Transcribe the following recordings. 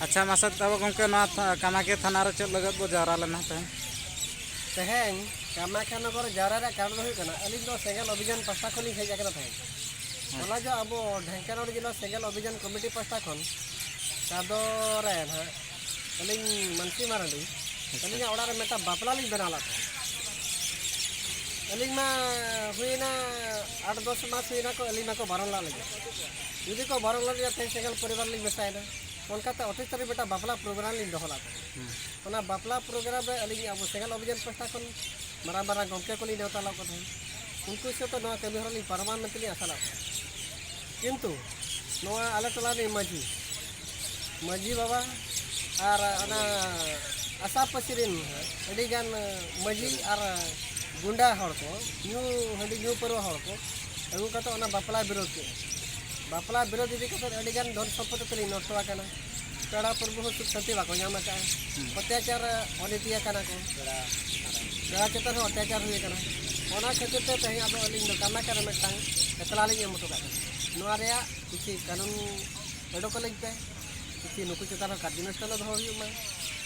ᱟᱪᱪᱷᱟ ᱢᱟᱥᱮ ᱛᱟᱵᱚ ᱜᱚᱢᱠᱮ ᱱᱚᱣᱟ ᱠᱟᱢᱟᱠᱤᱭᱟᱹ ᱛᱷᱟᱱᱟ ᱨᱮ ᱪᱮᱫ ᱞᱟᱹᱜᱤᱫ ᱵᱚ ᱡᱟᱣᱨᱟ ᱞᱮᱱᱟ ᱛᱮᱦᱮᱧ ᱛᱮᱦᱮᱧ ᱠᱟᱢᱟᱠᱤᱭᱟᱹ ᱱᱚᱜᱚᱨ ᱡᱟᱣᱨᱟ ᱨᱮᱭᱟᱜ ᱠᱟᱨᱚᱱ ᱫᱚ ᱦᱩᱭᱩᱜ ᱠᱟᱱᱟ ᱟᱹᱞᱤᱧ ᱫᱚ ᱥᱮᱸᱜᱮᱞ ᱚᱵᱷᱤᱡᱟᱱ ᱯᱟᱥᱴᱟ ᱠᱷᱚᱱ ᱞᱤᱧ ᱦᱮᱡ ᱟᱠᱟᱱᱟ ᱛᱮᱦᱮᱧ ᱚᱱᱟ ᱡᱚ ᱟᱵᱚ ᱰᱷᱮᱝᱠᱟᱱᱟᱲ ᱡᱮᱞᱟ ᱥᱮᱸᱜᱮᱞ ᱚᱵᱷᱤᱡᱟᱱ ᱠᱚᱢᱤᱴᱤ ᱯᱟᱥᱴᱟ ᱠᱷᱚᱱ ᱠᱟᱫᱚ ᱨᱮ ᱱᱟᱦᱟᱜ ᱟᱹᱞᱤᱧ ᱢᱟᱱᱥᱤ ᱢᱟᱨᱟᱱᱰᱤ ᱟᱹᱞᱤᱧᱟᱜ ᱚᱲᱟᱜ ᱨᱮ ᱢᱤᱫᱴᱟᱝ ᱵᱟᱯᱞᱟ ᱞᱤᱧ ᱵᱮᱱᱟᱣ ᱞᱮᱫ ᱛᱟᱦᱮᱸᱫ ᱟᱹᱞᱤᱧ ᱢᱟ ᱦᱩᱭᱱᱟ ᱟᱴ ᱫᱚᱥ ᱢᱟᱥ ᱦᱩᱭᱱᱟ ᱠᱚ ᱟᱹᱞᱤᱧ ᱢᱟᱠᱚ ᱵᱟᱨᱚᱱ ᱞᱟᱜ ᱞᱤᱧᱟ ᱡᱩᱫᱤ ᱠᱚ ᱵᱟᱨᱚ ᱞᱟᱜ ᱨᱮᱭᱟᱜ ᱛᱮᱦᱮᱧ ᱥᱮᱸᱜᱮᱞ ᱯᱚᱨᱤᱵᱟᱨ ᱞᱤᱧ ᱢᱮᱥᱟᱭᱮᱱᱟ ᱚᱱᱠᱟᱛᱮ ᱚᱴᱷᱤᱥ ᱛᱟᱹᱨᱤ ᱢᱤᱫᱴᱟᱝ ᱵᱟᱯᱞᱟ ᱯᱨᱳᱜᱨᱟᱢ ᱞᱤᱧ ᱫᱚᱦᱚ ᱞᱟᱜ ᱚᱱᱟ ᱵᱟᱯᱞᱟ ᱯᱨᱳᱜᱨᱟᱢ ᱨᱮ ᱟᱹᱞᱤᱧ ᱟᱵᱚ ᱥᱮᱸᱜᱮᱞ ᱚᱵᱷᱤᱡᱟᱱ ᱯᱟᱥᱴᱟ ᱠᱷᱚᱱ ᱢᱟᱨᱟᱝ ᱢᱟᱨᱟᱝ ᱜᱚᱢᱠᱮ ᱠᱚᱞᱤᱧ ᱱᱮᱣᱛᱟ ᱞᱟᱜ ᱠᱚ ᱛᱟᱦᱮᱸᱫ ᱩᱱᱠᱩ ᱥᱟᱶᱛᱮ ᱱᱚᱣᱟ ᱠᱟᱹᱢᱤ ᱦᱚᱨᱟ ᱞᱤᱧ ᱯᱟᱨᱚᱢᱟ ᱢᱮᱱᱛᱮ ᱞᱤᱧ ᱟᱥᱟ ᱞᱟᱜ ᱠᱚᱣᱟ ᱠᱤᱱᱛᱩ ᱱᱚᱣᱟ ᱟᱞᱮ ᱴᱚᱞᱟ ᱨᱤᱱᱤᱡ ᱢᱟᱹᱡᱷᱤ ᱢᱟᱹᱡᱷᱤ ᱵᱟᱵᱟ ᱟᱨ ᱚᱱᱟ ᱟᱥᱟ ᱯᱟᱹᱥᱤ ᱨᱤᱱ ᱟᱹᱰᱤᱜᱟᱱ ᱢᱟᱹᱡᱷᱤ ᱟᱨ ᱜᱩᱱᱰᱟ ᱦᱚᱲ ᱠᱚ ᱧᱩ ᱦᱟᱺᱰᱤ ᱧᱩ ᱯᱟᱹᱨᱣᱟᱹ ᱦᱚᱲ ᱠᱚ ᱟᱹᱜᱩ ᱠᱟᱛᱮ ᱚᱱᱟ ᱵᱟᱯᱞᱟ ᱵᱤᱨᱳᱫ ᱠᱮᱫᱼᱟ ᱵᱟᱯᱞᱟ ᱵᱤᱨᱳᱫ ᱤᱫᱤ ᱠᱟᱛᱮ ᱟᱹᱰᱤ ᱜᱟᱱ ᱫᱷᱚᱱ ᱥᱚᱢᱯᱚᱫ ᱛᱮᱞᱤᱧ ᱱᱚᱥᱴᱚ ᱟᱠᱟᱱᱟ ᱯᱮᱲᱟ ᱯᱩᱨᱵᱚ ᱦᱚᱸ ᱥᱩᱠ ᱥᱟᱱᱛᱤ ᱵᱟᱠᱚ ᱧᱟᱢ ᱟᱠᱟᱫᱼᱟ ᱚᱛᱛᱟᱪᱟᱨ ᱚᱱᱤᱛᱤ ᱟᱠᱟᱱᱟ ᱠᱚ ᱯᱮᱲᱟ ᱪᱮᱛᱟᱱ ᱦᱚᱸ ᱚᱛᱛᱟᱪᱟᱨ ᱦᱩᱭ ᱟᱠᱟᱱᱟ ᱚᱱᱟ ᱠᱷᱟᱹᱛᱤᱨ ᱛᱮ ᱛᱮᱦᱮᱧ ᱟᱫᱚ ᱟᱹᱞᱤᱧ ᱫᱚ ᱠᱟᱢᱟᱠᱟ ᱨᱮ ᱢᱤᱫᱴᱟᱝ ᱮᱛᱞᱟ ᱞᱤᱧ ᱮᱢ ᱦᱚᱴᱚ ᱠᱟᱜ ᱠᱟᱱᱟ ᱱᱚᱣᱟ ᱨᱮᱭᱟᱜ ᱠᱤᱪᱷᱤ ᱠᱟᱹᱱᱩᱱ ᱚᱰᱚᱠ ᱟᱹᱞᱤᱧ ᱯᱮ ᱠᱤᱪᱷᱤ ᱱᱩᱠᱩ ᱪᱮᱛᱟᱱ ᱦᱚᱸ ᱠᱟᱨᱡᱚᱱᱩᱥᱴᱷᱟᱱ ᱫᱚᱦᱚ ᱦᱩᱭᱩᱜ ᱢᱟ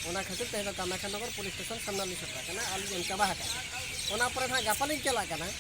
ᱚᱱᱟ ᱠᱷᱟᱹᱛᱤᱨ ᱛᱮᱦᱮᱧ ᱫᱚ ᱠᱟᱢᱟᱠᱟ ᱱᱚᱜᱚᱨ ᱯᱩᱞᱤᱥ ᱥᱴᱮᱥᱚᱱ ᱥᱟᱢᱱᱟ ᱞᱤᱧ ᱥᱮᱴᱮᱨ ᱟᱠᱟᱱᱟ ᱟᱨ ᱞᱤᱧ ᱮᱢ ᱪᱟᱵᱟ ᱟᱠᱟᱫᱼᱟ ᱚᱱᱟ ᱯᱚᱨᱮ ᱱᱟᱦᱟᱜ ᱜᱟᱯᱟ ᱞᱤᱧ ᱪᱟᱞᱟᱜ ᱠᱟᱱᱟ